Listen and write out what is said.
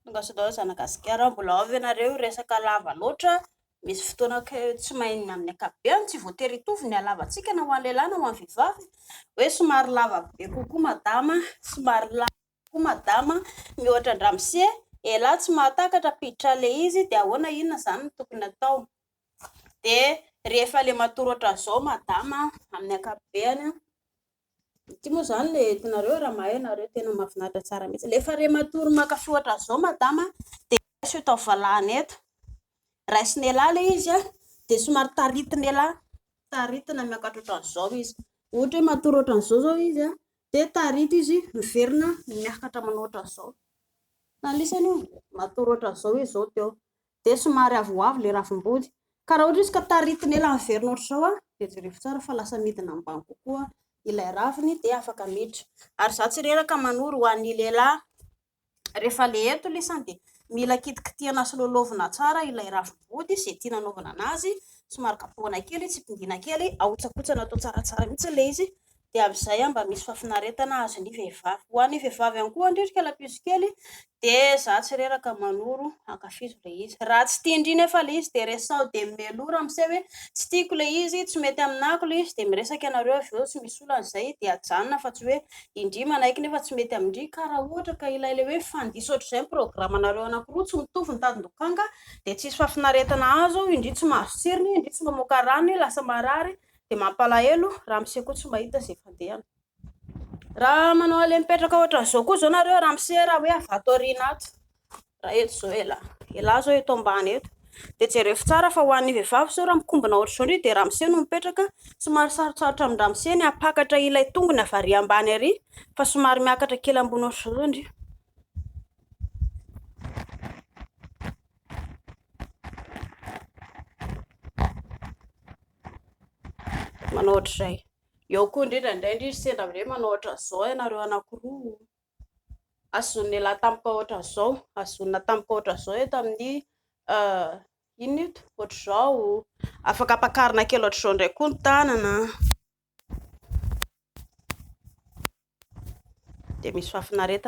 Tonga sy daholo zanaka gasikara. Mbola ao ve nareo? Resaka lava loatra. Misy fotoana ka tsy main ny amin'ny ankapobeny. Tsy voatery hitovy ny halavantsika na ho an'ny lehilahy na ho an'ny vehivavy. Hoe somary lava be kokoa madama, somary lava kokoa madama. Miohatra an-dramose. Elah tsy mahatakatra ampiditra ilay izy dia ahoana inona izany no tokony atao. Dia rehefa ilay matory ohatran'izao madama amin'ny ankapobeny. Ity moa izany ilay entinareo raha mahay ianareo, tena mahafinaritra tsara mihitsy. Rehefa re matory mankafy ohatra an'izao madama dia raiso eto amin'ny valahana eto. Raison'elah ilay izy an, dia somary taritin'elah, taritina miakatra ohatra an'izao izy. Ohatra hoe matory ohatra an'izao izao izy an, dia tarito izy miverina miakatra manao ohatra an'izao. Anisany io, matory ohatra an'izao izy izao teo. dia somary avoavo ilay ravim-body. Ka raha ohatra izy ka taritina ela niverina ohatr'izao dia jerevo tsara fa lasa midina ambany kokoa ilay raviny dia afaka miditra. Ary izaho tsy reraka manoro ho an'ny lehilahy. Rehefa le eto lisany dia mila kitikitihana sy loloavina tsara ilay ravim-body izay tiana anaovana anazy, somary kapohina kely, tsipindina kely, ahotsakotsana atao tsaratsara mihitsy ilay izy dia amin'izay aho mba misy fahafinaretana ahazo ny vehivavy. Ho an'ny vehivavy ihany koa andrika lapiso kely dia izaho tsy reraka manoro ankafizo ilay izy. Raha tsy tian-dry nefa ilay izy dia resaho dia mimelora amin'izay hoe tsy tiako ilay izy, tsy mety aminako ilay izy dia miresaka ianareo avy eo tsy misy olana izay dia ajanona fa tsy hoe indry manaiky nefa tsy mety amin-dry ka raha ohatra ka ilay ilay hoe mifandiso ohatr'izay ny programanareo anankiroa tsy mitovy ny tadin-dokanga dia tsisy fahafinaretana azo indry tsy mahazo tsirony indry tsy mamoaka rany lasa marary dia mampalahelo raha mise koa tsy mba hita izay fandehany raha manao ale mipetraka ohatran'izao koa zao nareo raha mise raha hoe avato aoriana ato raha eto zao ela ela zao eto ambany eto dia jerefo tsara fa ho an'ny vehivavy zao raha mikombona ohatr'izao ndry dia raha mise no mipetraka somary sarotsarotra amin-dra mise ny apakatra ilay tongony avy ary ambany ary fa somary miakatra kely ambony ohatr'izao zao ndry manao ohatr'izay. Eo koa indrindra indray ndry sendra amin'ireny manao ohatr'izao ianareo anankiroa, azon'ialahy tampoka ohatr'izao, azonina tampoka ohatr'izao eto amin'ny inona ito, ohatr'izao, afaka ampakarina kely ohatr'izao indray koa ny tanana, dia misy fahafinaretana.